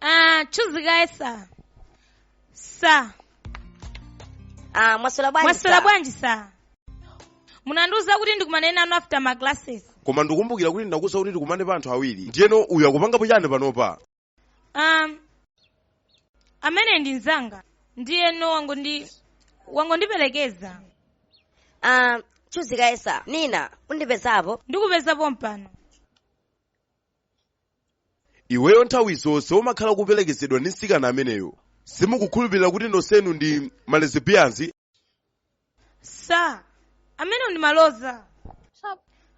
Ah, chuzi kaye sir. Sir, Ah, mwaswera bwanji? mwaswera bwanji sir? Munandiuza kuti ndikumane nanu after my classes. koma ndikumbukira kuti ndinakuuza kuti tikumane pa anthu awiri ndiyeno uyu akupangapo chani panopa um, ameneyu ndi mzanga ndiyeno wangondi wangondiperekeza Ah, chuzi kaye sa nina undipezapo ndikupeza pompano iweyo nthawi zonse umakhala kuperekezedwa ndi mtsikana ameneyo simukukhulupirira kuti nonsenu ndi ma lesbians sa amenewo ndi malodza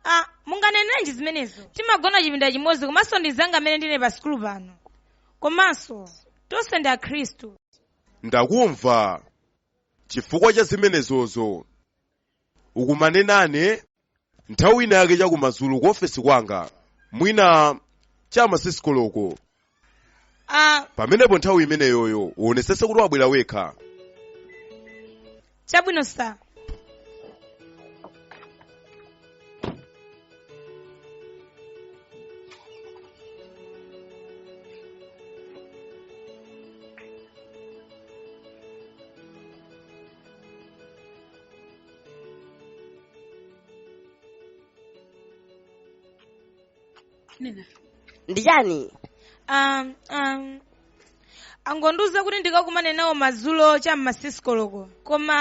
ah, munganenerenji zimenezo timagona chipinda chimodzi komanso ndi mzanga amene ndine pa sikulu pano komanso tonse ndi akhristu ndakumva chifukwa cha zimenezozo ukumane nane nthawi ina yake chakumadzulo ku ofesi kwanga mwina cha ma sikisi koloko pamenepo nthawi imeneyoyo uonesese kuti wabwera wekha chabwino sa nina ndi chani um, um, angondiuza kuti ndikakumane nawo madzulo cha m'ma sikisi koloko koma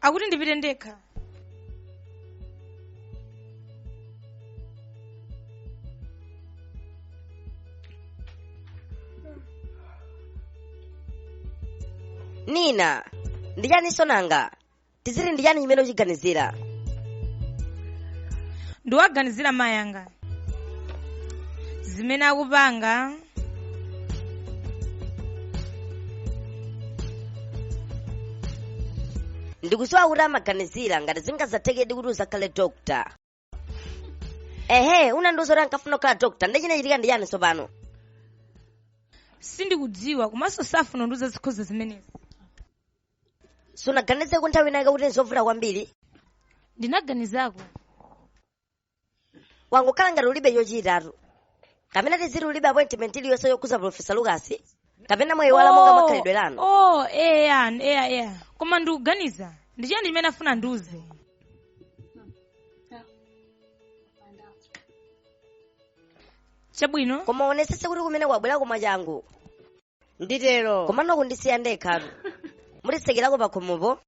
akuti ndipite ndekha nina ndi chaninso nanga tiziti ndi chani chimene uchiganizira ndiwaganizira mayi anga zimene akupanga ndikusowa kuti amaganizira ngati zingazathekedi kuti uzakhale dokta ehe unandiuza kuti ankafuna kukhala dokta nde chinachitika ndi chani tsopano sindikudziwa komanso safuna kundiuza zokhuza zimenezi sunaganizeko nthawi inayake kuti nzovuta kwambiri ndinaganizako wangokhala ngati ulibe chochitatu kapena tiziti ulibe appointment iliyonse yokhuza profesa lukasi kapena mwayiwala monga makhalidwe lanu oh eya eya eya koma ndikuganiza ndi chiyani chimene afuna ndiuze chabwino koma uonesese kuti kumene ubwereko mwachangu nditero komano kundisiya ndekhatu mutitsekerako pakhomopo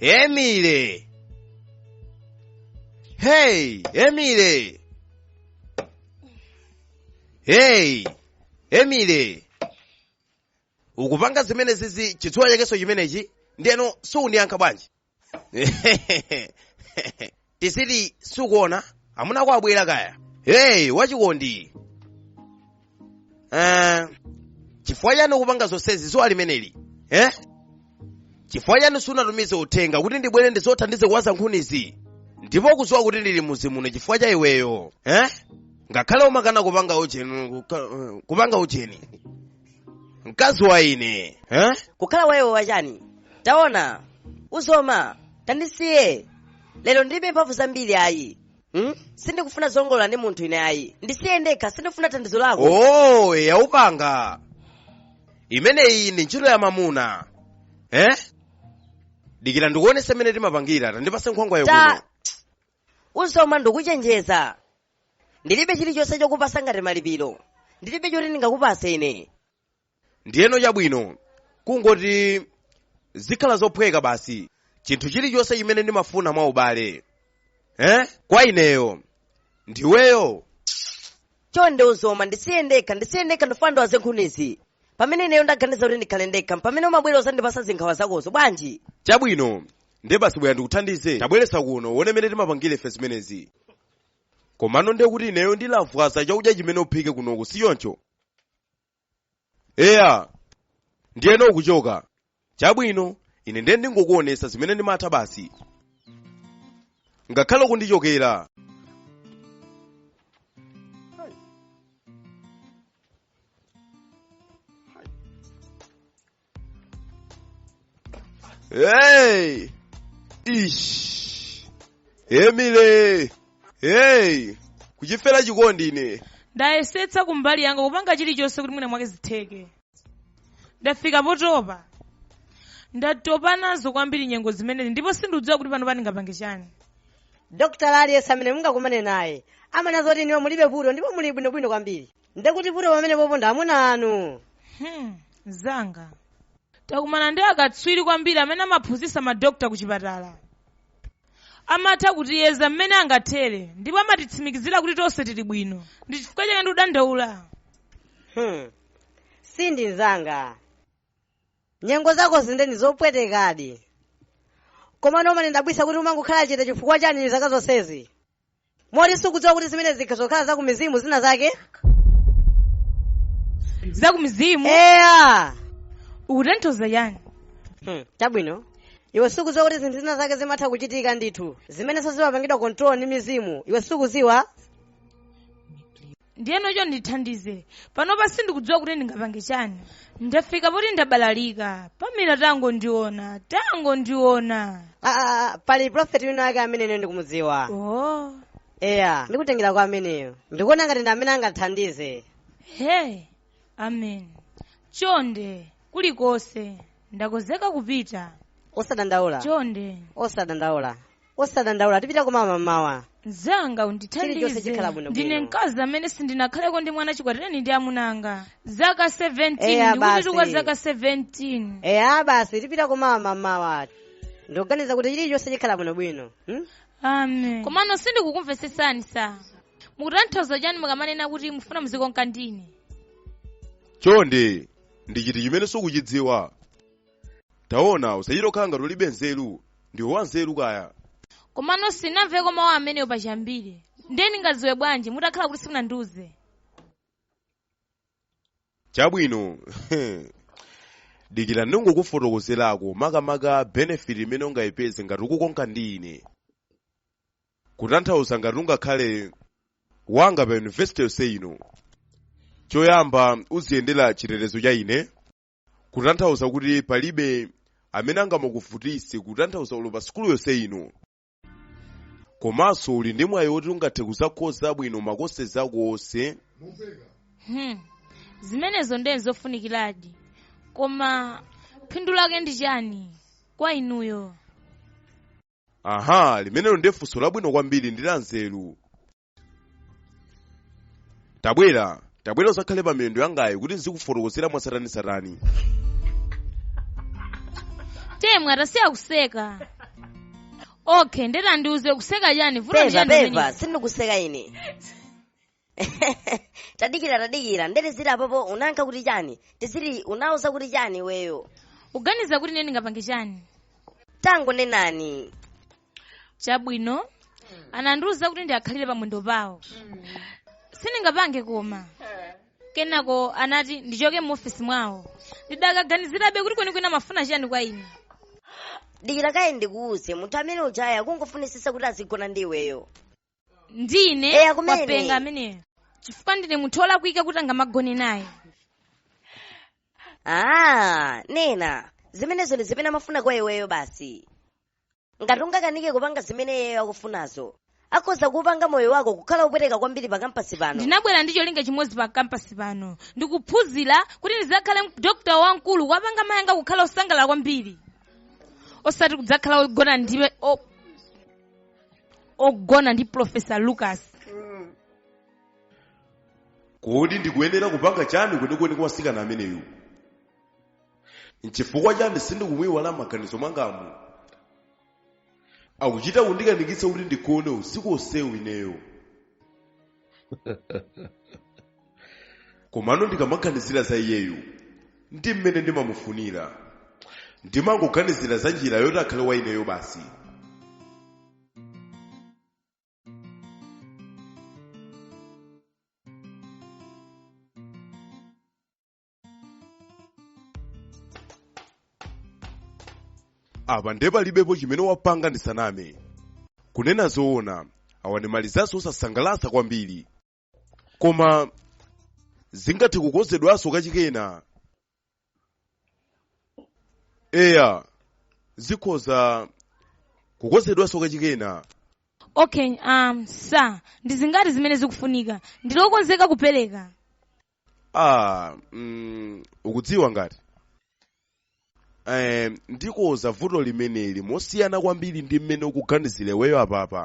Emile! Hey, Emile! Hey, Emile! Ukupanga zimene zizi chizuwa chakenso chimenechi ndeno siuniyankha bwanji? tiziti sukuona amuna ako abwera kaya hey wachikondi uh, chifukwa chani ukupanga zonsezi zuwa limeneli eh? chifukwa chani sunatumize uthenga kuti ndibwere ndizokuthandize kuwaza nkhunizi ndipo kuziwa kuti ndili muzi muno chifukwa cha iweyo eh? ngakhale umakana kupanga ujeni kuka- eh, kupanga ujeni mkazi wa ine eh? kukhala wa iwe wachani taona uzoma tandisiye lero ndilibe mphamvu zambiri ayi hmm? sindikufuna zongolola ndi munthu ine ayi ndisiye ndekha sindikufuna thandizo lako oh yaupanga imeneyi ndi ntchito ya mamuna eh? dikira ndikuonese mmene timapangira tandipase nkhwangwa yakuno ta Uzoma ndikuchenjeza. Ndilibe chilichonse chokupasa ngati malipiro. Ndilibe choti ndingakupase ine. ndiyeno chabwino kungoti zikhala zophweka basi chinthu chilichonse chimene ndimafuna mwa ubale eh? kwa ineyo ndiweyo Chonde uzoma ndisiye ndekha, ndisiye ndekha ndifuna ndiwaze nkhunizi. Pamene ineyo ndaganiza kuti ndikhale ndekha, pamene umabwera kuzandipasa zinkhawa zakozo bwanji? chabwino ndiye basi bwera ndikuthandize tabweretsa kuno uone mmene timapangire ife zimenezi komano ndiye kuti ineyo ndilawa chakudya chimene uphike kunoku si choncho eya ndiyeno ukuchoka chabwino ine ndiye ndingokuonesa zimene ndimatha basi ngakhale kundichokera Hey! Ish! Emile! Hey! Kuchifera chikondi ine. ndayesetsa kumbali yanga kupanga chilichonse kuti mwina mwake zitheke ndafika potopa ndatopa nazo kwambiri nyengo zimenezi ndipo sindidziwa kuti pano ndingapange chani dokotala aliyense amene mungakumane naye amanena zoti inuyo mulibe vuto ndipo muli bwinobwino kwambiri ndekuti vuto pamenepopo ndi amuna anu Hmm, mzanga takumana ndi akatswiri kwambiri amene amaphunzitsa madokta ku chipatala amatha kutiyeza mmene angathere ndipo amatitsimikizira kuti tonse tili bwino ndi chifukwa chake ndikudandaula Hmm. Cindy nzanga nyengo zakozi nde ndi zopwetekadi komano umandidabwitsa kuti umangokhala chete chifukwa chani zaka zonsezi moti sukudziwa kuti zimene zikhoza kukhala za kumizimu zina zake za kumizimu eya ukutanthauza chani Hmm, chabwino iwe sukudziwa kuti zinthu zina zake zimatha kuchitika ndithu zimenenso zimapangidwa control ndi mizimu iwe sukudziwa ndiyeno chonde ndithandize panopa sindikudziwa kuti ndingapange chani ndafika poti ndabalalika pamela tangondiona tangondiona Ah, ah, ah, pali prophet wina ake amene ine ndikumudziwa oh. eya ndikutengera kwa ameneyo ndikuona ngati ndi amene angathandize hey amen chonde kulikonse ndakonzeka kupita osadandaula chonde osadandaula osadandaula tipita koma mamawa mzanga undithandize ndine mkazi amene sindinakhaleko ndi mwana chikwatireni ndi amuna anga zaka 17 ndikuti kwa zaka 17 eya basi tipita koma mamawa ndikuganiza kuti chilichonse chikhala bwinobwino hmm? amen komano sindikukumvetsetsani sir mukutanthauza chani mukamanena kuti mufuna muzikonka ndine chonde ndi chiti chimene sukuchidziwa taona usachita kukhala ngati ulibe nzeru ndiwe wanzeru kaya komano sinamveko mawu amenewo pachiyambire ndiye ndingadziwe bwanji mutakhala kuti simunandiuze chabwino dikira ndingokufotokozerako makamaka benefit imene ungayipeze ngati ukukonka ndi ine kutanthauza ngati ungakhale wanga pa university yonse ino choyamba uziyendera chitetezo cha ine kutanthauza kuti palibe amene angamakuvutitse kutanthauza olo pa sukulu yonse ino komanso uli ndi mwayi woti ungathe kuzakhoza bwino ma courses ako onse Hmm. zimenezo ndiye zofunikiradi koma phindu lake ndi chani kwa inuyo aha limenelo ndiye funso labwino kwambiri ndi la nzeru tabwera tabwera uzakhale pa miyendo yangayi kuti nzikufotokozera mwatsatanetsatane temwa tasiya kuseka okay nde tandiuze ukuseka chani vuto ndi peva chani peva pamenepo? sindikuseka ine tadikira tadikira ndete zili apopo unanka kuti chani tizili unauza kuti chani iweyo uganiza kuti ine ndingapange chani tangonenani chabwino anandiuza kuti ndiwakhalire pamwendo pawo sindingapange koma kenako anati ndichoke mu ofisi mwawo ndidakaganizirabe kuti kwenikweni amafuna chiyani kwa ine dikira kaye ndikuuze munthu amene ujayo akungofunisisa kuti azigona ndi iweyo ndine Eya, kumene. wapenga ameneyo chifukwa ndine munthu olakwika kuti angamagone naye ah nena zimenezo ndi zimene amafuna kwa iweyo basi ngati ungakanike kupanga zimene iyeyo akufunazo akhoza kupanga moyo wako kukhala opweteka kwambiri pa kampasi pano ndinabwera ndi cholinga chimodzi pa kampasi pano ndi kuphunzira kuti ndidzakhale dokta wamkulu kuwapanga mayi anga kukhala osangalala kwambiri osati kudzakhala ogona ndi o- ogona ndi profesa lucas kodi ndikuyenera kupanga chani kwenikweni kwa mtsikana ameneyu nchifukwa chani sindikumuiwala mmaganizo mwangamu akuchita kundikanikitsa kuti ndigone usiku onsewu ineyo komano ndikamaganizira za iyeyu ndi mmene ndimamufunira ndimangoganizira za njira yoti akhale wa ineyo basi apa nde palibepo chimene wapanga ndisaname kunena zoona awa ndi malizaltsi osasangalatsa kwambiri koma zingathe kukonzedwanso kachikena eya zikhoza kukonzedwanso kachikena okay um, sa ndi zingati zimene zikufunika ndili okonzeka kupereka ah mm, ukudziwa ngati eh, ndikonza vuto limeneli mosiyana kwambiri ndi mmene ukuganizira iweyo apapa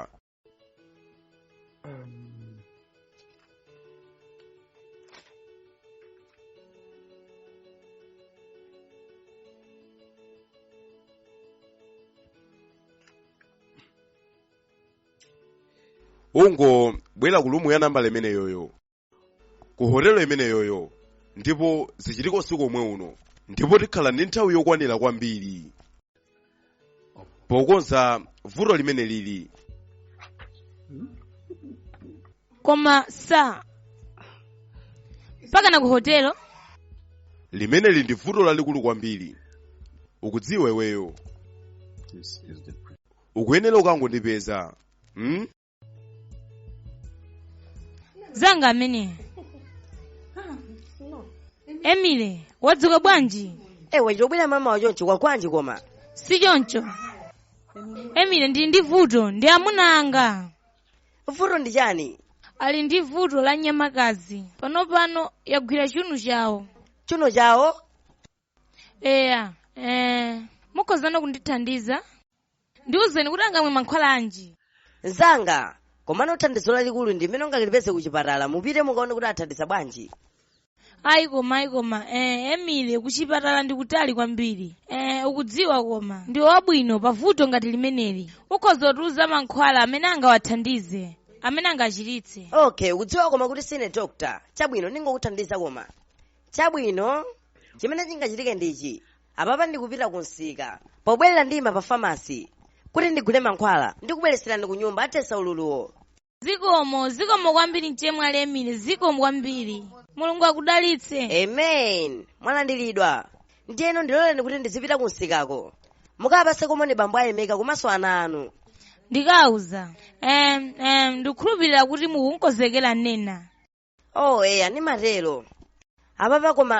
ungobwera ku rumu ya nambala imeneyoyo ku hotelo imeneyoyo ndipo zichitike usiku omwe uno ndipo tikhala ndi nthawi yokwanira kwambiri pokonza vuto limeneli koma sa mpakana ku hotelo limeneli ndi vuto lalikulu kwambiri ukudziwa iweyo ukuyenera ukangondipeza hmm? mzanga amene emile wadzuka bwanji ewe chobwera mmamawa chonchi kwakwanji nkoma si choncho emile ndili ndi vuto ndi amuna anga vuto ndi chani ali ndi vuto la nyamakazi panopano yagwira chiuno chawo chiuno chawo eya eh, mukhoza kundithandiza ndiwuzeni kuti angamwe mankhwala anji mzanga komano thandizo lalikulu ndi limene ungalipeze ku chipatala mupite mukaone kuti athandiza bwanji ayi koma ayi koma eh, emile kuchipatala ndi kutali kwambiri eh, ukudziwa koma ndiwe wabwino pavuto ngati limeneli ukhoza kutiuza mankhwala amene angawathandize amene angawachiritse okay ukudziwa koma kuti sine dokta chabwino ndingokuthandiza koma chabwino chimene chingachitike ndichi apapa ndikupita ku msika pobwerera ndima pa famasi kuti ndigule mankhwala ndikubweretserani ku nyumba athetsa ululuwo zikomo zikomo kwambiri mchemwali emile zikomo kwambiri mulungu akudalitse amen mwalandiridwa ndiyeno ndiloleni kuti ndizipita ku msikako mukapatseko moni bambo ayemeka komanso ana anu ndikawauza em em ndikukhulupirira kuti mukunkozekera nena oh eya ndimatero apapa koma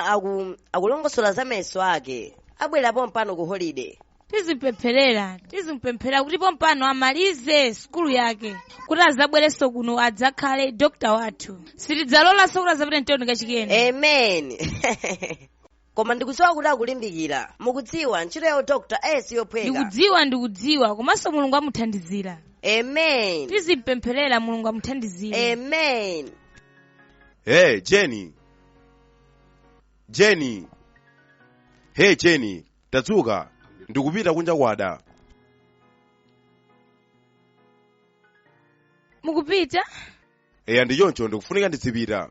akulongosola za mayeso ake abwera pompano ku holiday tizimpempherera tizimpempherera kuti pompano amalize sukulu yake kuti azabwerenso kuno adzakhale dokta wathu sitidzalolanso kuti azapite mtoni kachikenanso amen koma ndikudziwa kuti akulimbikira mukudziwa ntchito ya udokta si yophweka ndikudziwa ndikudziwa komanso mulungu amuthandizira amen tizimpempherera mulungu amuthandizire amen hey jeni jeni hey jeni tadzuka ndikupita kunja kwada mukupita eya ndi choncho ndikufunika ndizipita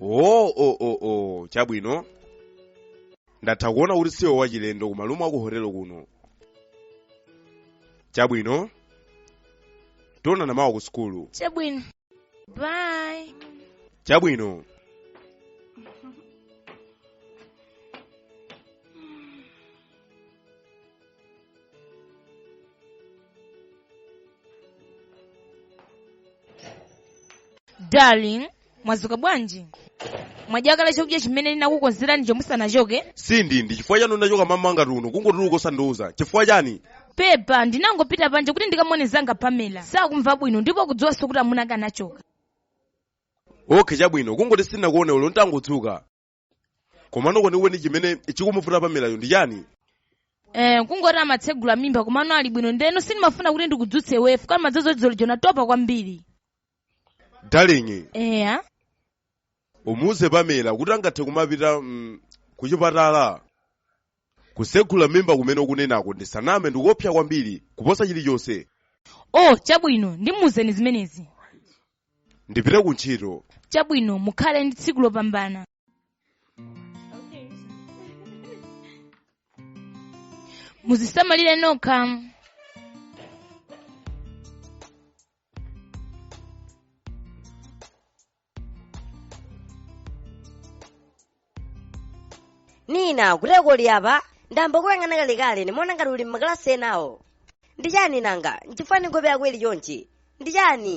oo oo oo oo chabwino ndatha kuona kuti siwe wachilendo ku malumu aku hotelo kuno chabwino tionana mawa ku sukulu chabwino bye chabwino darling mwazuka bwanji mwadya kale chakudya chimene ndinakukonzerani chomwe musanachoke sindi ndi chifukwa chani unachoka mmamawa ngati uno kungotuluka osandiuza chifukwa chani pepa ndinangopita panja kuti ndikamuone mzanga pamela sakumva bwino ndipo ukudziwanso kuti amuna ake anachoka okhe chabwino kungoti sindinakuone ulo ntangodzuka komano kwenikweni chimene chikumuvuta pamelayo ndi chani Eh, kungoti amatsegula mimba komano ali bwino ndeno sindimafuna kuti ndikudzutse iwe chifukwa ndi madzulo dzulo lija unatopa kwambiri darling eya umuuze pamela kuti angathe kumapita kuchipatala kusegula mimba kumene ukunenako ndisaname ndi koopsa kwambiri kuposa chilichonse oh chabwino ndimuuza ine zimenezi ndipite ku ntchito chabwino mukhale ndi tsiku lopambana muzisamalire nokha nina kodi uli apa ndayamba kuyang'ana kalekale ndimaona ngati uli m'makalasi enawo ndi chani nanga nchifukwa chani nkhope yako ili chonchi ndi chani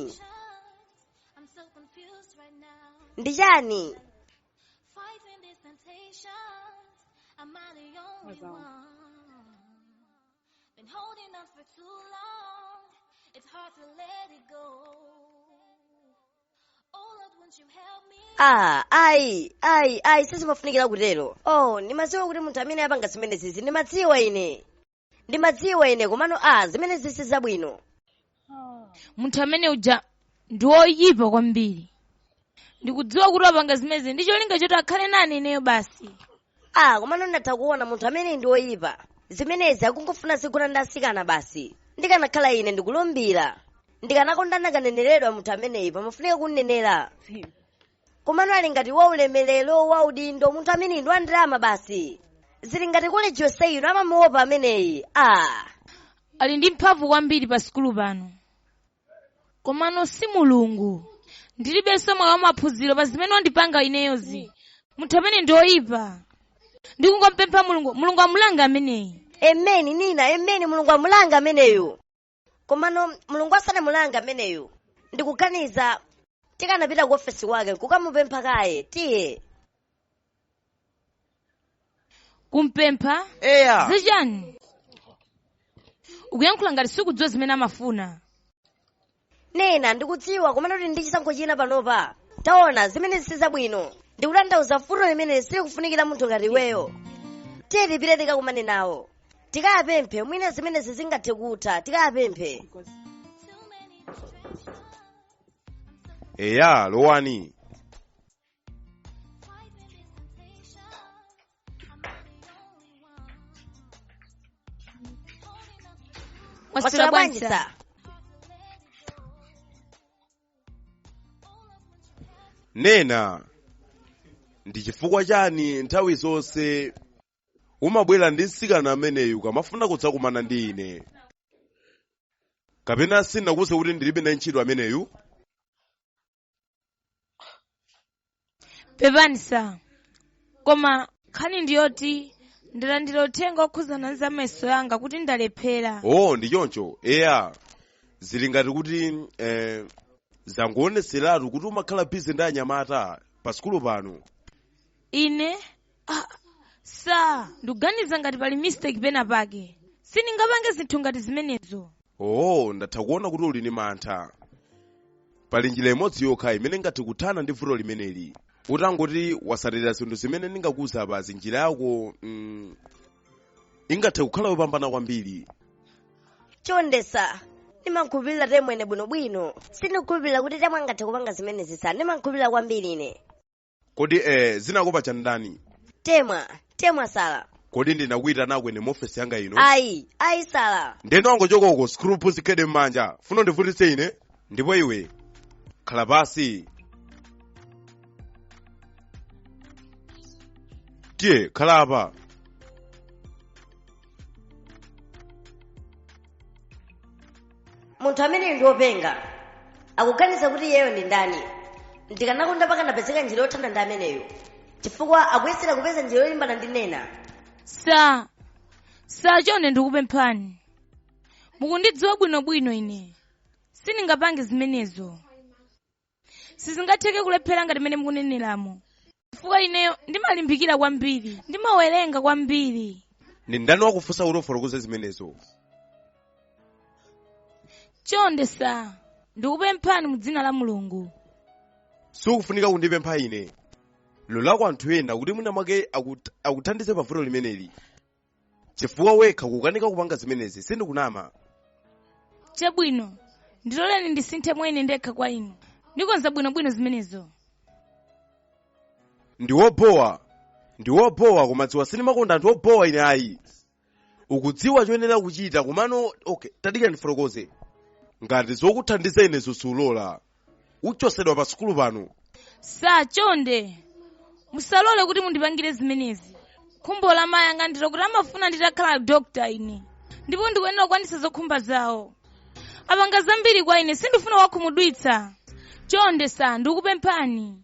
ndi chani ah ayi ayi ayi sizimafunikira kutero oh ndimadziwa kuti munthu amene wapanga zimenezizi ndimamudziwa ine ndimamudziwa ine komano ah zimenezi si zabwino munthu amene uja ndi woyipa kwambiri ndikudziwa kuti wapanga zimenezi ndi cholinga choti akhale nane ineyo basi ah komano ndatha kuona munthu ameneyi ndi woyipa zimenezi akungofuna azigona ndi asikana basi ndikanakhala ine ndikulumbira ndikanakonda akananeneredwa munthu ameneyi pamafunika kumnenera komano ali ngati wa ulemerero wa udindo munthu ameneyi ndi wa ndalama basi zili ngati koleji yonse ino amamuopa ameneyi ah ali ndi mphamvu kwambiri pa sikulu pano komano si mulungu ndilibenso mwayi wamaphunziro pa zimene wandipanga ineyozi munthu ameneyi ndi oyipa ndikungompempha mulungu mulungu amulange ameneyi emeni nina emeni mulungu amulange ameneyo komano mulungu asanamulange ameneyo ndikuganiza tikanapita ku ofesi kwake nkukamupempha kaye tiye kumpempha eya zichani ukuyankhula ngati sukudziwa zimene amafuna nina ndikudziwa komano kulibe chisankho china panopa taona zimenezi si zabwino ndikutanthauza vuto limene silikufunikira munthu ngati iweyo tiye tipite tikakumane nawo tikawapemphe mwina zimenezi zingathe kutha tikawapemphe eya lowani Mwaswera bwanji sir nina ndi chifukwa chani nthawi zonse umabwera ndi mtsikana ameneyu ukamafuna kudzakumana ndi ine kapena sinakuuze kuti ndilibe naye ntchito ameneyu pepani sa koma nkhani ndi yoti ndalandira uthenga wokhuzana ndi za mayeso yanga kuti ndalephera oh ndi choncho eya zili ngati kuti eh, zangoonetseratu kuti umakhala bizi ndi anyamata pa sukulu pano ine sa ndikuganiza ngati pali mistake pena pake sindingapange zinthu ngati zimenezo oh ndatha kuona kuti uli ndi mantha pali njira imodzi yokha imene ingathe kuthana ndi vuto limeneli utangoti watsatira zinthu zimene ndingakuuze apazi njira yako mm, ingathe kukhala yopambana kwambiri chonde sa ndimakhulupirira temwene bwinobwino sindikukhulupirira kuti temwe angathe kupanga zimenezi sa ndimakhulupirira kwambiri ine kodi eh, zinakupatsa ndani temwa temwa sala kodi ndinakuitana kwene mu ofesi yanga ino ayi ayi sala ndiyeno wangochoka uko sikulupu zikhede m'manja ufuna undivutitse ine ndipo iwe khala pansi tiye khala apa munthu ameneyu ndi wopenga akuganiza kuti iyeyo ndi ndani ndikanakonda pakanapezeka njira yothana ndi ameneyu chifukwa akuyesera kupeza njira yolimbana ndi nena sa sa chonde ndikupemphani mukundidziwa bwinobwino ine sindingapange zimenezo sizingatheke kulephera ngati mmene mukuneneramo chifukwa ineyo ndimalimbikira kwambiri ndimawerenga kwambiri ndi ndani wakufunsa kuti ufotokoze zimenezo chonde sa ndikupemphani mu dzina la mulungu sikufunika kundipempha ine lolako anthu ena kuti mwina mwake akuthandize pa vuto limeneli chifukwa wekha ukanika kupanga zimenezi sindikunama chabwino ndiloleni ndisinthe mwene ndekha kwa inu ndikonza bwinobwino zimenezo ndi wobowa ndi wobowa koma dziwa sindimakonda anthu obowa ine ayi ukudziwa choyenera kuchita komano okay tadikira ndifotokoze ngati zokuthandiza ine sulola uchotsedwa pa sukulu pano sa chonde musalole kuti mundipangire zimenezi khumbo la mayi anga ndilo kuti amafuna nditakhala dokta ine ndipo ndikuyenera kukwanitsa zokhumba zawo apanga zambiri kwa ine sindifuna kuwakhumudwitsa chonde sa ndikupemphani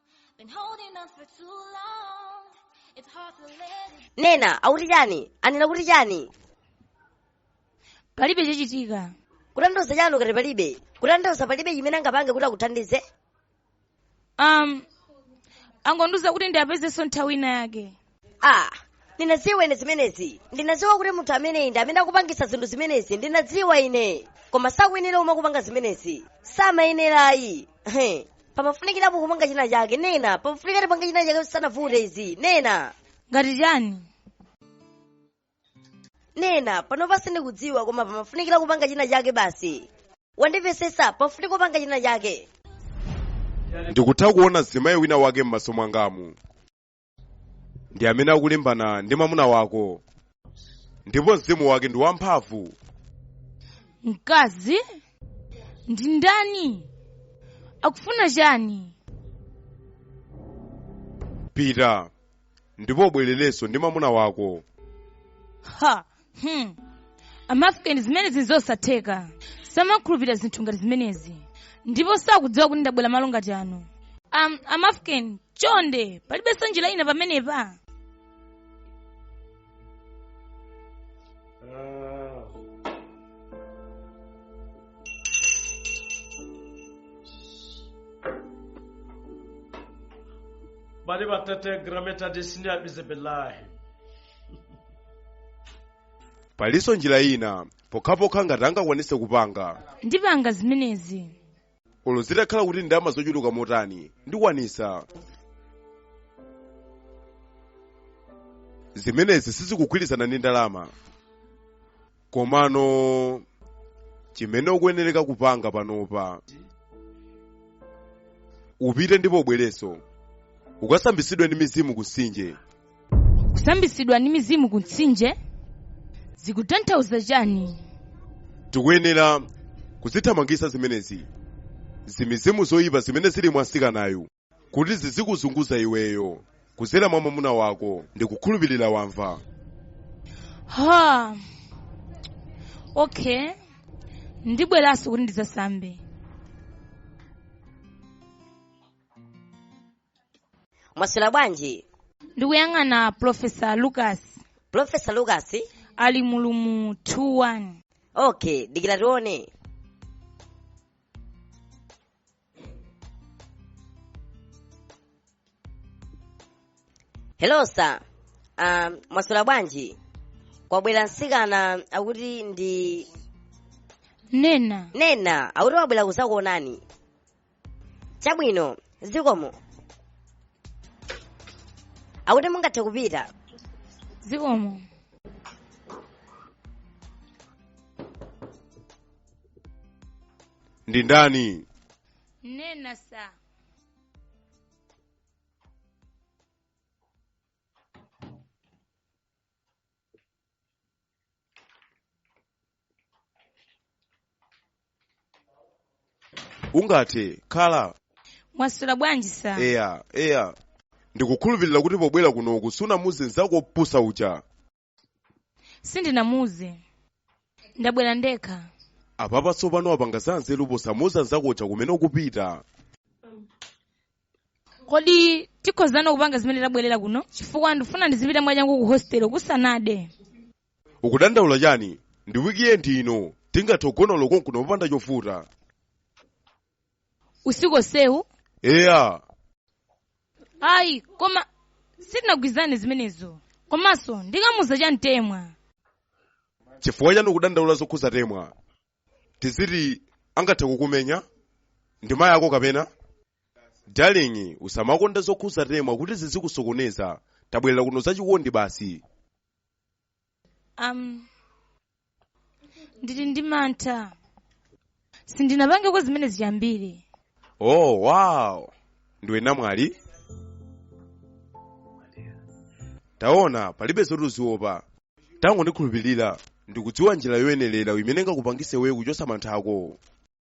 nena akuti chani anena kuti chani palibe chachitika kutanthauza chani ukati palibe kutanthauza palibe chimene angapange kuti akuthandize um angondiuza kuti ndiwapezenso nthawi ina yake ah ndinadziwa ine zimenezi ndinadziwa kuti munthu ameneyi ndi amene akupangisa zinthu zimenezi ndinadziwa ine koma sakuyenera umwe kupanga zimenezi samayenera ayi He. pamafunikirapo kupanga china chake nena pamafunika tipanga china chake sanavute izi nena ngati chani nena panopa sindikudziwa koma pamafunikira kupanga china chake basi wandimvesesa pamafunika kupanga china chake ndikutha kuona mzimayi wina wake m'maso mwangamu ndi amene akulimbana ndi mwamuna wako ndipo mzimu wake ndi wamphamvu mkazi ndi ndani akufuna chani pita ndipo ubwerenso ndi mwamuna wako ha hmm. amafrikeni zimenezi nzosatheka samakhulupirira zinthu ngati zimenezi ndipo sakudziwa kuti ndabwera malo ngati ano um, amafrikeni chonde palibenso njira ina pamenepa bali batatengera metadisini ya bizibilahi palinso njira ina pokhapokha ngati angakwanise kupanga ndipanga zimenezi olo zitakhala kuti ndalama zochuluka motani ndikwanisa zimenezi sizikugwirizana ndi ndalama komano chimene ukuyenereka kupanga panopa upite ndipo ubwerenso ukasambitsidwe ndi mizimu ku mtsinje kusambitsidwa ndi mizimu ku mtsinje zikutanthauza chani tikuyenera kuzithamangisa zimenezi zimizimu zoyipa zimene zili mwa msikanayu kuti zizikuzunguza iweyo kuzera mwa mwamuna wako ndikukhulupirira wamva ha okay ndibweranso kuti ndidzasambe mwaswera bwanji ndikuyang'ana profesa lucas profesa lucas ali mulumu 21 okay dikira tione hello sir um, mwaswera bwanji kwabwera msikana akuti ndi nena akuti wabwera kuzakuonani chabwino zikomo akuti mungathe kupita zikomo ndi ndani Nena sa. ungathe kukhala Mwaswera bwanji sa. eya eya ndikukhulupirira kuti pobwera kunoku sunamuuze nzako opusa uja sindinamuuze ndabwera ndekha apapa tsopano wapanga za nzeru posamuuza nzako uja kumene ukupita kodi tikhozana kupanga zimene tabwerera kuno chifukwa ndifuna ndizipita mwachangu ku hostel kusanade ukudandaula chani ndi wikiendi ino tingathe kugona loko kuno popanda chovuta usiku onsewu eya ayi koma sitinagwirizane zimenezo komanso ndikamuuza chani Temwa chifukwa chani ukudandaula zokhuza Temwa tiziti angathe kukumenya ndi mayi ako kapena darling usamakonda zokhuza Temwa kuti zizikusokoneza tabwerera kuno zachikondi basi um, ndili ndi mantha sindinapangeko zimenezi chiyambire oh wow ndiwe namwali taona palibe zoti uziopa tangondikhulupirira ndikudziwa njira yoyenerera imene ingakupangitse iweyo kuchotsa mantha ako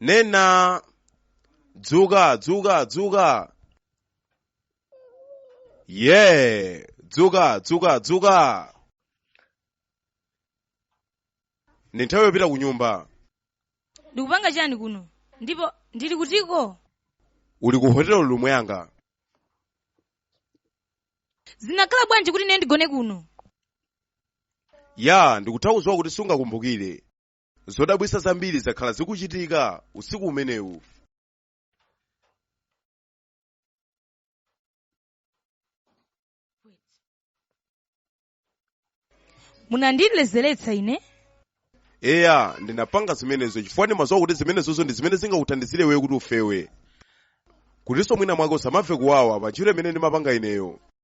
Nena dzuka dzuka dzuka ye dzuka dzuka dzuka ndi nthawi yopita ku nyumba ndikupanga chani kuno ndipo ndili kutiko uli ku hotelo lumu yanga zinakhala bwanji kuti ine ndigone kuno ya ndikutha kudziwa kuti sungakumbukire zodabwisa zambiri zakhala zikuchitika usiku umenewu munandilezeretsa ine eya ndinapanga zimenezo chifukwa ndimaziwa kuti zimenezozo ndi zimene zingakuthandizire iweyo kuti ufewe kutinso mwina mwake usamamve kuwawa pa ntchito imene ndimapanga ineyo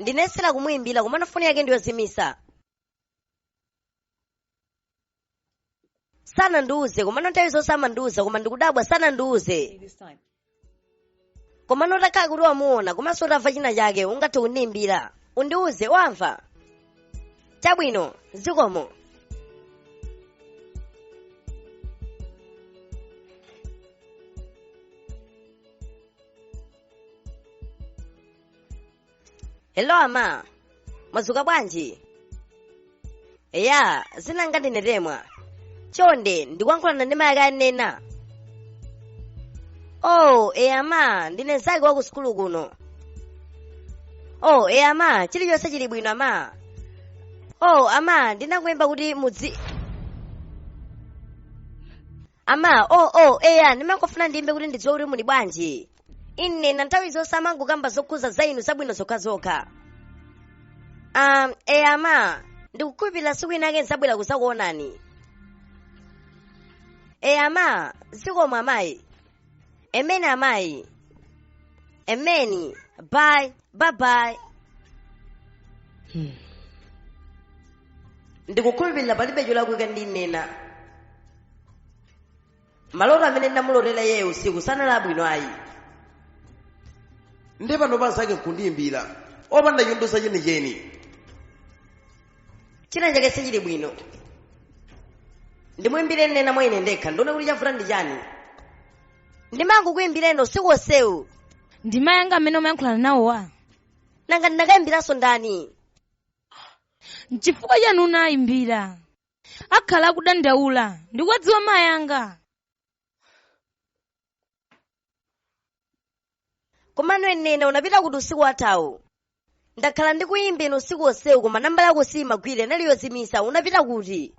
ndinayesera kumuyimbira komano foni yake ndiyozimisa sanandiuze komano nthawi zonse amandiuza koma ndikudabwa sanandiuze komano utakhala kuti wamuona komanso utamva china chake ungathe kundiyimbira undiuze wamva chabwino zikomo hello ama mwazuka bwanji eya dzina langa ndine temwa chonde ndikuyankhulana ndi mayi ake a nena oh eya ama ndine mzake wa ku sukulu kuno oh eya ama chilichonse chili bwino ama oh ama ndinakuyimba kuti mudzi ama oh oh eya ndimangofuna ndiyimbe kuti ndidziwe kuti muli bwanji nena nthawi zonse amangokamba zokhuza za inu zabwino zokhazokha um, eya ama ndikukhulupirira siku inake nzabwera kuzakuonani eya ama zikomo amayi amen amayi amen bye bye bye ndikukhulupirira palibe cholakwika ndi nena maloto amene ndamulotera iyeyo usiku sanali abwino ayi ndi pano anzake nkundiyimbira opanda chondiuza chenicheni china chake sichili bwino ndimwimbire nena mwa ine ndekha ndione kuti chavuta ndi chani ndimangokuyimbira usiku onsewu ndi mayi anga amene umayankhulana nawowa nanga ndinakayimbiranso ndani nchifukwa chani unayimbira akhala akudandaula ndikuwadziwa mayi anga komano nena unapita kuti usiku wathawu ndakhala ndikuyimbira usiku onsewu koma nambala yako siyimagwira inali yozimisa unapita kuti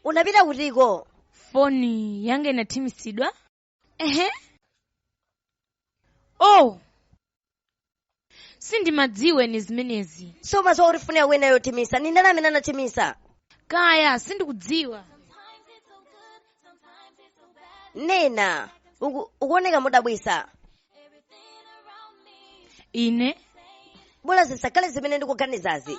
unapita kutiko foni yanga inathimitsidwa ehe oh sindimadziwa ine zimenezi sumadziwa kuti foni yako inali yothimisa ndi ndani amene anathimisa kaya sindikudziwa nena uku- ukuoneka modabwisa ine bola zisakhale zimene ndikuganizazi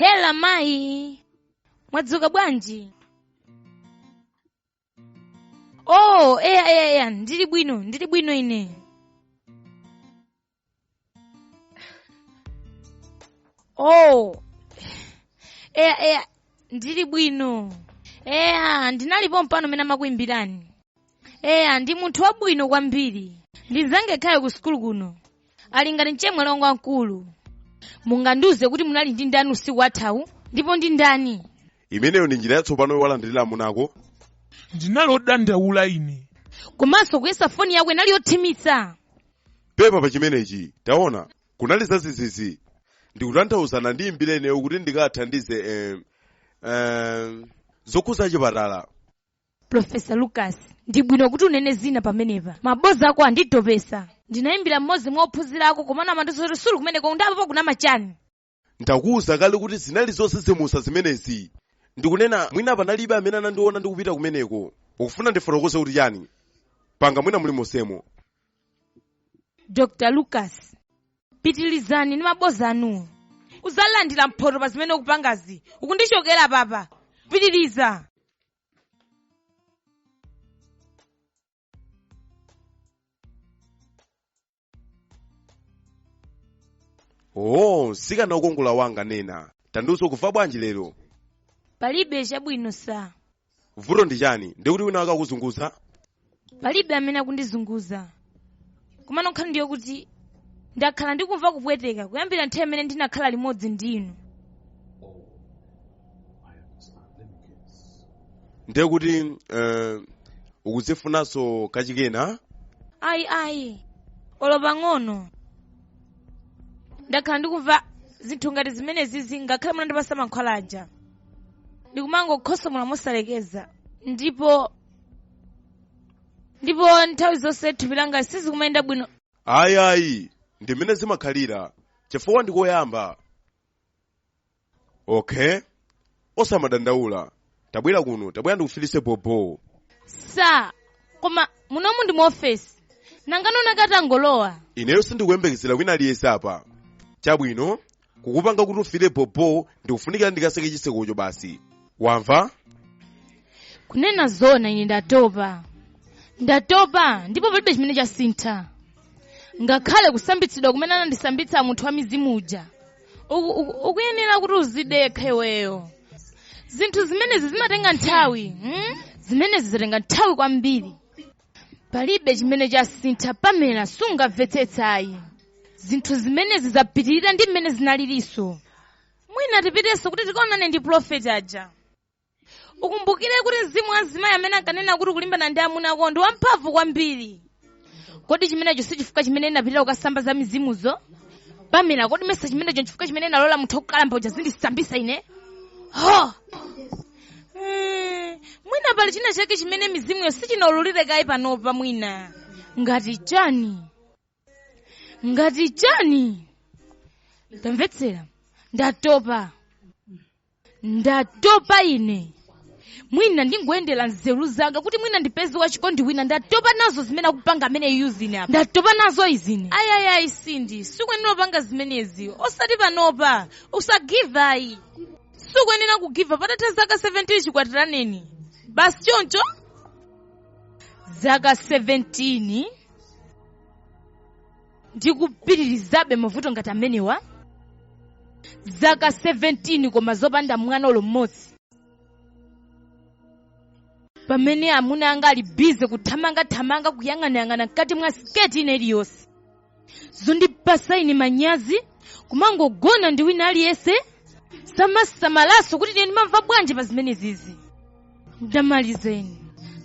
hello mayi mwadzuka bwanji oh eya eya eya ndili bwino ndili bwino ine oh eya eya ndili bwino eya ndinali pompano mmene amakuimbirani eya ndi munthu wabwino kwambiri ndi mzanga yekhayo ku sukulu kuno ali ngati mchemwali wanga wamkulu mungandiuze kuti munali ndi ndani usiku wathawu ndipo ndi ndani imeneyo ndi njira yatsopano yowalandirira amunako ndinali odandaula ine komanso kuyesa foni yako inali yothimitsa pepa pa chimenechi taona kunali zadzidzidzi ndikutanthauza anandiimbira ineyo kuti ndikathandize eh, eh, zokhuza chipatala Profesa Lucas, ndi bwino kuti unene zoona pamenepa. Mabodza ako anditopesa. Ndinayimbira mmodzi mwa ophunzira ako komano amandiuza kuti suli kumeneko ndiye apapa ukunama chani. Ndakuwuza kale kuti zinali zodzidzimutsa zimenezi. Ndikunena mwina panalibe amene anandiona ndikupita kumeneko. Ukufuna ndifotokoze kuti chani? Panga mwina mulimonsemo. Dr. Lucas, pitilizani ndi maboza anuwo udzalandira mphoto pa zimene ukupangazi ukundichokera pa apa pitiliza oo msikana wokongola wanga nena tandiuza ukumva bwanji lero palibe chabwino sir vuto ndi chani ndiye kuti wina wake akukuzunguza palibe amene akundizunguza komano nkhani ndi yokuti ndakhala ndikumva kupweteka kuyambira nthawi imene ndinakhala limodzi ndi inu ndiye kuti uh, ukuzifunanso kachikenanso ayi ayi olo pang'ono ndakhala ndikumva zinthu ngati zimenezizi ngakhale munandipasa mankhwala aja ndikumangokhosomola mosalekeza ndipo ndipo nthawi zonse mthupi langa sizikumayenda bwino ayi ayi ndi mmene zimakhalira chifukwa ndikoyamba okay osamadandaula tabwera kuno tabwera ndikufilise bobo sir koma munomu ndi mu ofesi nangano wina atangolowa ineyo sindikuyembekezera wina aliyense apa chabwino kukupanga kuti ufile bobo ndi kofunikira ndikatseke chitsekocho basi wamva kunena zona ine ndatopa ndatopa ndipo palibe chimene chasintha ngakhale kusambitsidwa kumene anandisambitsa munthu wa mizimu uja uku- uku- ukuyenera kuti uzidekha iweyo zinthu zimenezi zimatenga nthawi hmm? zimenezi zatenga nthawi kwambiri palibe chimene chasintha pamela sukumvetsetsa ayi zinthu zimenezi zapitirira ndi mmene zinalirinso mwina tipitenso kuti tikaonane ndi pulofeti aja ukumbukire kuti mzimu wa mzimayi amene ankanena kuti akulimbana ndi amuna ako ndi wamphamvu kwambiri kodi chimenecho si chifukwa chimene ndinapitira kukasamba za mizimuzo pamela kodi mesa chimenecho nchifukwa chimene ndinalola munthu wokalamba uja azindisambitsa ine ho Mm, mwina pali china chake chimene mizimuyo siinaulule kaye panopa mwina ngati chani ngati chani tamvetsera ndatopa ndatopa ine mwina ndingoyendera nzeru zanga kuti mwina ndipeze wachikondi wina ndatopa nazo zimene akupanga ameneyuzi ine apa ndatopa nazo izi ine ayayayi sindi sukuyenera kupanga zimenezi osati panopa usagive ayi sukuyenera kugivapa patatha zaka 17 chikwatiraneni basi choncho zaka 17 ndikupiririrabe mavuto ngati amenewa zaka 17 koma zopanda mwana olo mmodzi pamene amuna anga ali bize kuthamangathamanga kuyang'anayang'ana mkati mwa siketi ina iliyonse zondipasa ine manyazi kumangogona ndi wina aliyense samasamalaso kuti ine ndimamva bwanji pa zimenezizi ndamaliza ine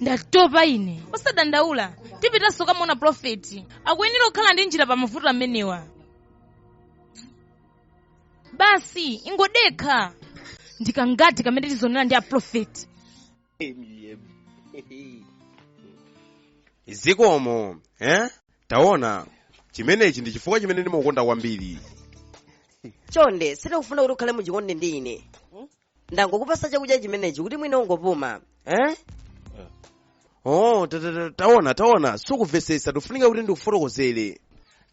ndatopa ine osadandaula tipitanso kukamuona profeti akuyenera kukhala ndi njira pa mavuto amenewa basi ingodekha ndi kanthawi kamene tizaonana ndi aprofeti zikomo eh? taona chimenechi ndi chifukwa chimene ndimakukonda kwambiri chonde sindikufuna kuti ukhale muchikondi ndi ine ndangokupasa chakudya chimenechi kuti mwina ungopuma eh? oh ta- ta- ta- taona taona sukumvetsetsa tikufunika kuti ndikufotokozere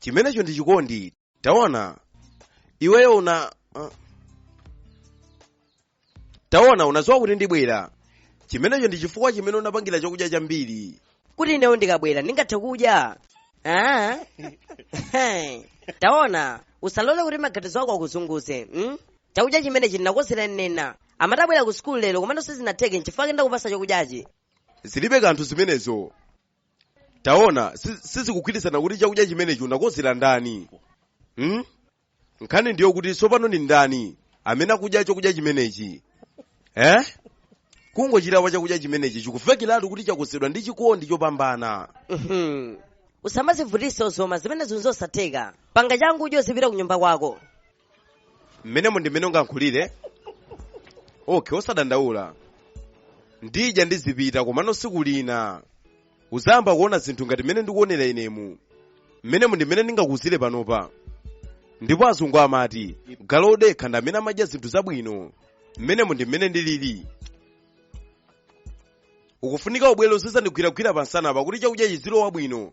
chimenecho ndi chikondi taona iweyo una uh, taona unadziwa kuti ndibwera chimenecho ndi chifukwa chimene unapangira chakudya chambiri kuti ineyo ndikabwera ndingathe kudya Ah? taona usalole kuti maganizo ako akuzunguze mm? chakudya chimenechi ndinakozera nena amatabwera ku sukulu lero komano sizinatheke nchifukwa ndakupasa chakudyachi zilibe kanthu zimenezo taona si- sizikugwirizana kuti chakudya chimenechi unakonzera ndani hmm? nkhani ndi yokuti tsopano ndi ndani amene akudya chakudya chimenechi eh? kungochilawa chakudya chimenechi chikuvekiratu kuti chakonzedwa ndi chikondi chopambana Mhm. usamazivutise uzoma zimenezo nzosatheka panga changu udye uzipita ku nyumba kwako mmenemo ndi mmene ungayankhulire okay osadandaula ndidya ndizipita komano siku lina uzayamba kuona zinthu ngati mmene ndikuonera inemu mmenemo ndi mmene ndingakuuzire panopa ndipo azungu amati galu odekha ndi amene amadya zinthu zabwino mmenemo ndi mmene ndilili ukufunika ubwere uzizandigwiragwira pansanapa kuti chakudyachi zilowa bwino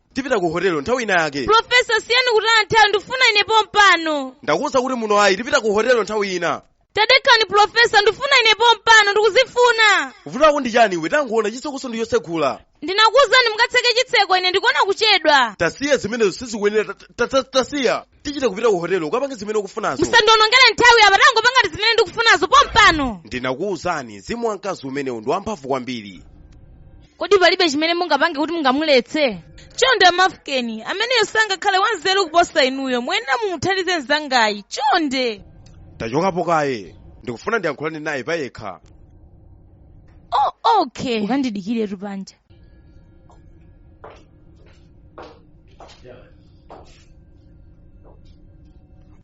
tipita ku hotelo nthawi ina yake profesa siyani kutaya nthawi ndifuna ine pompano ndakuwuza kuti muno ayi tipita ku hotelo nthawi ina tadekani profesa ndifuna ine pompano ndikuzifuna vuto lako ndi chani iwe tangoona chitsekoso ndi chosegula ndinakuwuzani mukatseke chitseko ine ndikuona kuchedwa tasiya zimenezo sizikuyenera ta- ta- ta- tasiya tichite kupita ku hotelo ukapange zimene ukufunazo musandionongere nthawi apa tangopangati zimene ndikufunazo pompano ndinakuwuzani mzimu wa mkazi umenewu ndi wamphamvu kwambiri kodi palibe chimene mungapange kuti mungamuletse chonde amafukeni ameneyo sangakhale wanzeru kuposa inuyo muyenera mumuthandize mzangayi chonde tachokapo kaye ndikufuna ndiyankhulane naye payekha oh, okay ukandidikiretu panja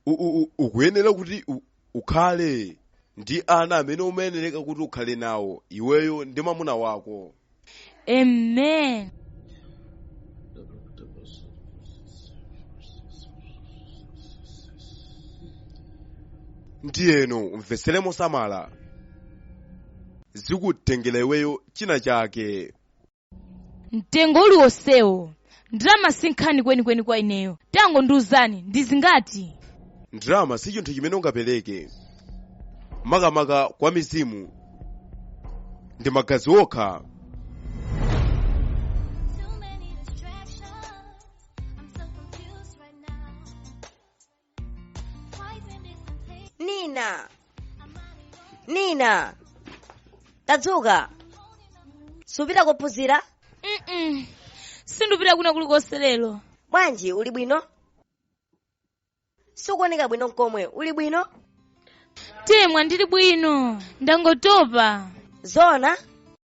U- u- u- ukuyenera kuti u- ukhale ndi ana amene umayenereka kuti ukhale nawo iweyo ndi mwamuna wako Amen. ndiyeno umvetsere mosamala zikutengera iweyo china chake mtengo uliwonsewo ndalama sinkhani kwenikweni kwa ineyo tangondiuzani ndi zingati ndalama si chinthu chimene ungapereke makamaka kwa mizimu ndi magazi okha nina nina tadzuka supita kukaphunzira mm sindupita kwina kulikonse lero bwanji uli bwino sukuoneka bwino nkomwe uli bwino temwa ndili bwino ndangotopa zona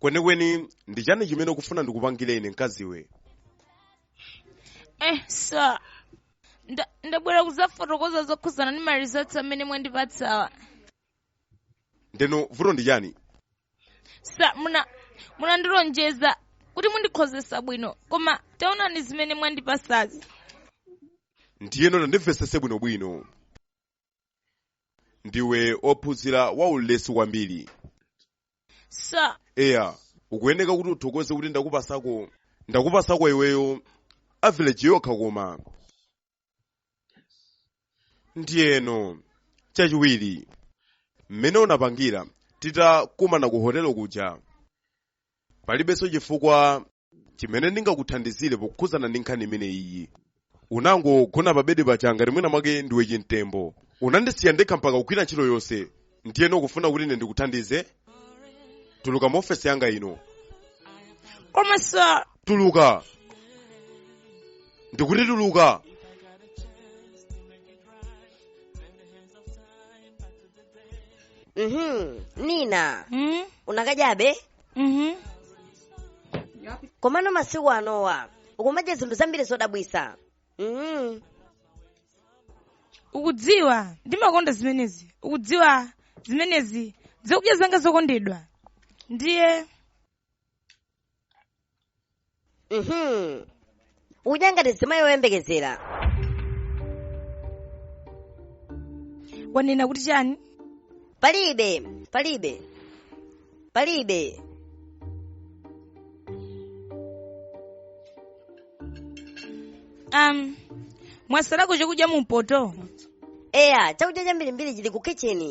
kwenikweni ndi chani chimene ukufuna ndikupangire ine mkaziwe eh sir Nda- ndabwera kudzafotokoza zokhudzana ndi ma results amene mwandipatsawa ndeno vuto ndi chani sir muna munandilonjeza kuti mundikhozesa bwino koma taonani zimene mwandipatsazi ndiyeno tandimvesese bwinobwino ndiwe ophunzira wa ulesi kwambiri Sir, eya ukuyeneka kuti uthokoze kuti ndakupasako ndakupasako iweyo average yokha koma ndiyeno chachiwiri mmene unapangira titakumana ku hotelo kuja palibenso chifukwa chimene ndingakuthandizire pokhudzana ndi nkhani imene iyi unangogona pa bedi paja ngati mwina mwake ndiwe chimtembo unandisiya ndekha mpaka kugwira ntchito yonse ndiyeno ukufuna kuti ine ndikuthandize tuluka mu ofesi yanga ino koma sir tuluka ndikuti tuluka mhm nina hmm? unakadyabe mhm komano masiku anowa ukumadya zinthu zambiri zodabwisa mhm ukudziwa ndimakonda zimenezi ukudziwa zimenezi zakudya zanga zokondedwa ndiye Mhm. udya ngati zimayi oyembekezera wanena kuti chani palibe palibe palibe um mwatsalako chakudya mumpoto eya chakudya chambirimbiri chili ku kitcheni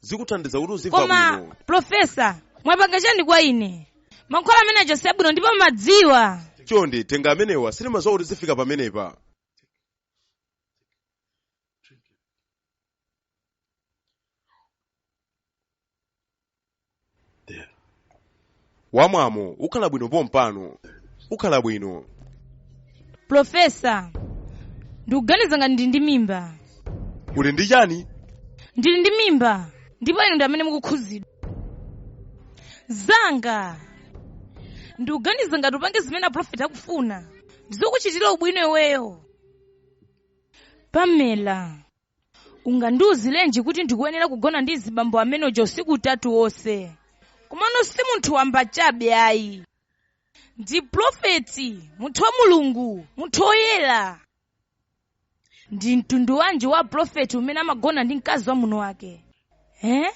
zikuthandiza kuti uzimva bwino koma profesa mwapanga chani kwa ine mankhwala amene aja si abwino ndipo mumadziwa chonde tenga amenewa sindimadziwa kuti zifika pamenepa There. wamwamo ukhala bwino pompano ukhala bwino Profesa, ndikuganiza ngati ndili ndi mimba. uli ndi chani Ndili ndi mimba, ndipo inu ndi amene mukukhuzidwa. Zanga, ndikuganiza ngati upange zimene aprofeti akufuna, ndizokuchitira ubwino iweyo. Pamela, ungandiuzirenji kuti ndikuyenera kugona ndi mzibambo amene uja usiku utatu wonse komano si munthu wamba chabe ayi ndi profeti munthu wa mulungu munthu woyera ndi mtundu wanji wa profeti umene amagona ndi mkazi wa munthu wake eh?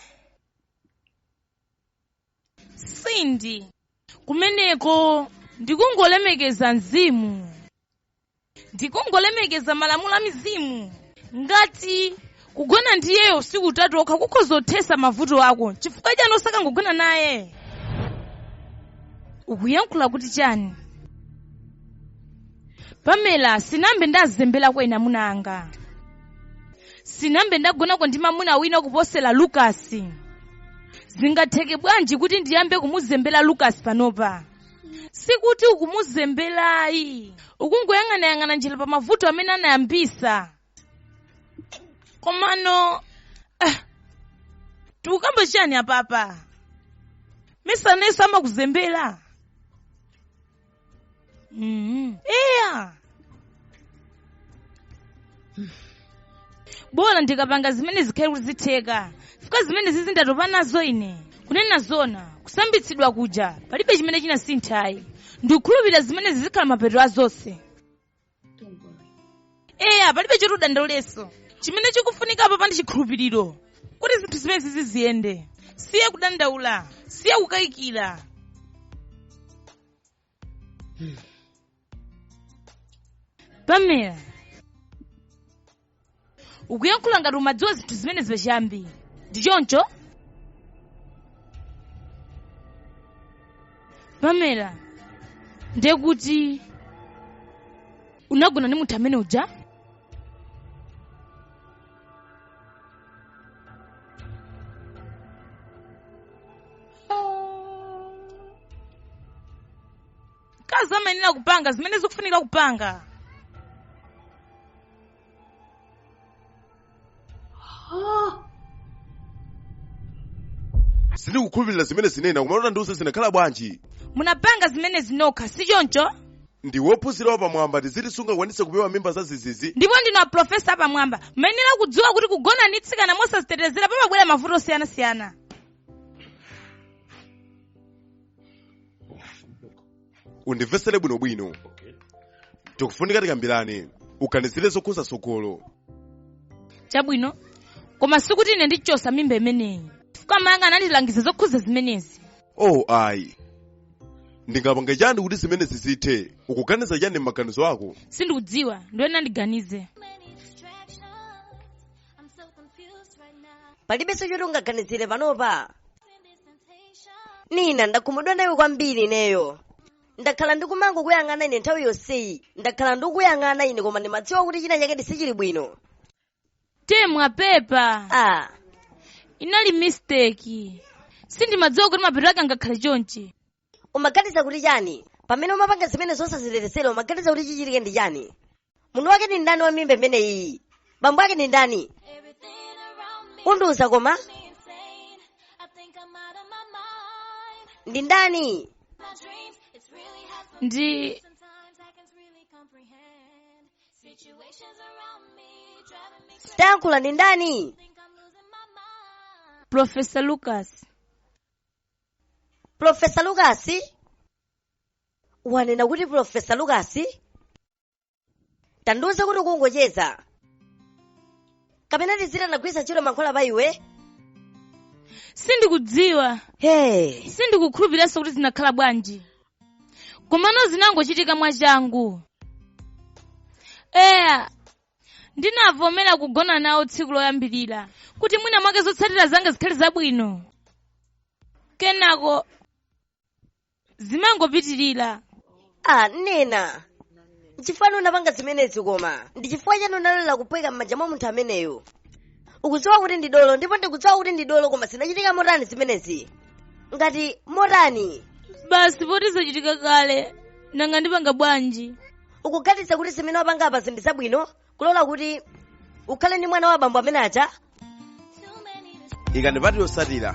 sindi kumeneko ndikungolemekeza mzimu ndikungolemekeza malamulo a mizimu ngati kugona ndi iyeyo usiku utatu okha kukhoza kuthesa mavuto ako chifukwa chani osakangogona naye ukuyankhula kuti chani pamela sinambe ndazembera kwa ena amuna anga sinambe ndagonako ndi mamuna wina kuposera lukasi zingatheke bwanji kuti ndiyambe kumuzembera lukasi panopa sikuti ukumuzemberayi ukungoyang'anayang'ana njira pa mavuto amene anayambisa komano eh, tikukamba chiyani apapa mesa nayenso amakuzembera Mm. eya bola ndikapanga zimene zikhale kuti zitheka chifukwa zimenezizi ndatopa nazo ine kunena zona kusambitsidwa kuja palibe chimene chinasinthayi ndikukhulupirira zimenezi zikhala mapeto a zonse eya palibe choti udandaule chimene chikufunika apa ndi chikhulupiriro kuti zinthu zimenezi ziyende siya kudandaula siya kukayikira pamela ukuyankhula ngati umadziwa zinthu zimenezi pachiyambi ndi choncho pamela ndiye kuti unagona ndi munthu amene uja mkazi amayenera kupanga zimene zikufunika kupanga sindikukhulupirira zimenezi nina komano tandiuze zinakhala bwanji munapanga zimenezi nokha si choncho ndiwe wophunzira wapamwamba tiziti sungakwanise kupewa mimba za ziizi ndipo ndinu aprofesa apamwamba mayenera kudziwa kuti kugona ndi tsikana mosazitetezera pamabwera mavuto osiyanasiyana undimvesere bwinobwino tikufunika tikambirane uganizire zokhuza tsogolo chabwino koma sikuti ine ndichosa mimba imeneyi chifukwa mayanga anandilangiza zokhuza zimenezi oh ayi ndingapange chani kuti zimenezi zithe ukuganiza chani m'maganizo ako sindikudziwa ndiyenera ndiganize palibenso choti ungaganizire panopa nina ndakhumudwa nawe kwambiri ineyo ndakhala ndikumangokuyang'ana ine nthawi yonseyi ndakhala ndikuyang'ana ine koma ndimadziwa kuti china chake sichili bwino temwa pepa ah inali mistake sindimadziwa kuti mapeto ake angakhale chonchi umaganiza kuti chani pamene umapanga zimenezo osazitetezera umaganiza kuti chichitike ndi chani munthu wake ndi ndani wa mimba imeneyi bambo ake ndi ndani undiuza koma ndi ndani ndi tayankhula ndi ndani profesa lucas Profesa Lukasi wanena kuti Profesa Lukasi tandiuze kuti ukungocheza kapena tiziti anagwiritsa ntchito mankhwala pa iwe sindikudziwa hey. sindikukhulupiriranso kuti zinakhala bwanji komano zinangochitika mwachangu eya ndinavomera kugona nawo tsiku loyambirira kuti mwina mwake zotsatira zanga zikhale zabwino kenako zimangopitirira ah nena nchifukwa chani unapanga zimenezi koma ndi chifukwa chani unalola kuphweka m'manja mwa munthu ameneyo ukudziwa kuti ndi dolo ndipo ndikudziwa kuti ndi dolo koma zinachitika motani zimenezi ngati motani basi poti zachitika kale nanga ndipanga bwanji ukuganiza kuti zimene wapanga apa zinthu zabwino kulola kuti ukhale ndi mwana wa abambo amene aja ikani pati yotsatira